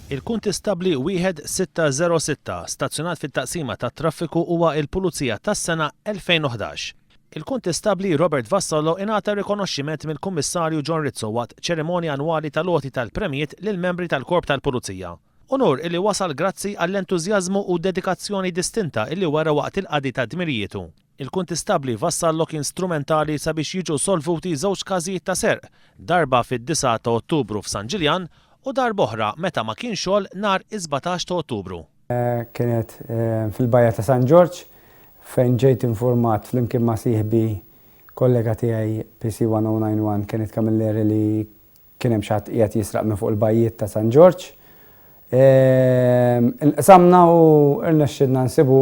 Il-Kuntistabbli Wieħed Sitta Żero Sitta stazzjonat fit-Taqsima tat-Traffiku huwa l-Pulizija tas-Sena 2011. Il-Kuntistabbli Robert Vassallo ingħata rikonoxximent mill-Kummissarju John Rizzo waqt ċerimonja annwali tal-għoti tal-premjiet lill-membri tal-Korp tal-Pulizija. Unur illi wasal grazzi għall-entużjażmu u dedikazzjoni distinta illi wera waqt il-qadi ta' dmirijietu. il-Kuntistabbli Vassallò kien strumentali sabiex jiġu solvuti żewġ każijiet ta' serq, darba fid-disgħa ta' Ottubru f'San Ġiljan u darb'oħra meta ma kienx xogħol nhar is-sbatax ta' Ottubru. Kienet fil-bajja ta' San Ġorġ fejn ġejt infurmat flimkien ma' sieħbi kollega tiegħi PC 1091 Kenneth Camilleri li Kien hemm xi ħadd qiegħed jisraq minn fuq il-bajjiet ta' San Ġorġ. Inqsamna u rnexxielna nsibu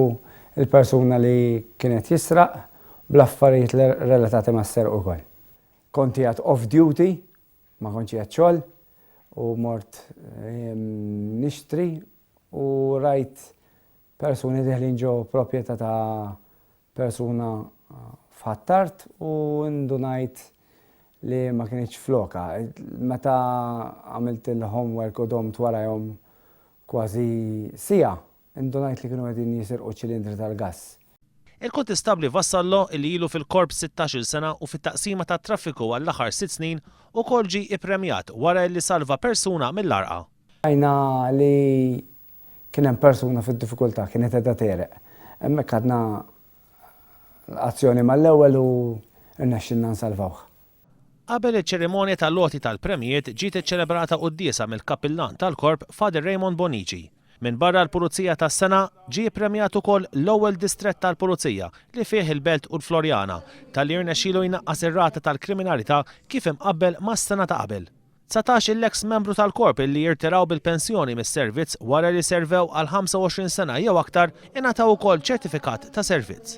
l-persuna li kien qed jisraq bl-affarijiet relatati mas-serq ukoll. Kont qiegħed off duty, ma kontx qiegħed xogħol u mort nixtri u rajt persuni deħlin ġo propjetà ta' persuna f'Ħ'Attard u indunajt li ma kinitx f'lokha. Meta għamilt il-homework u domt warajhom kważi siegħa, indunajt li kienu qegħdin jisirqu ċilindri tal-gass. Il-Kuntistabbli Vassallo li ilu fil-Korps sittax-il sena u fit-Taqsima tat-Traffiku għall-aħħar sitt snin ukoll ġie ippremjat wara li salva persuna mill-għarqa. Rajna li Kien hemm persuna fid-diffikultà, kienet qiegħda tegħreq. Hemmhekk ħadna azzjoni mal-ewwel u rnexxielna nsalvawh. Qabel iċ-ċerimonja tal-għoti tal-premjijiet ġiet iċċelebrata quddiesa mill-Kappillan tal-Korp Father Raymond Bonnici. Minbarra l-Pulizija tas-Sena, ġie ppremjat ukoll l-ewwel distrett tal-Pulizija li fih il-Belt u l-Floriana, talli rnexxielu jnaqqas ir-rata tal-kriminalità kif imqabbel mas-sena ta' qabel. Dsatax il-eks membru tal-Korp illi jirtiraw bil-pensjoni mis-servizz wara li servew għal 25 sena jew aktar ingħataw ukoll ċertifikat ta' servizz.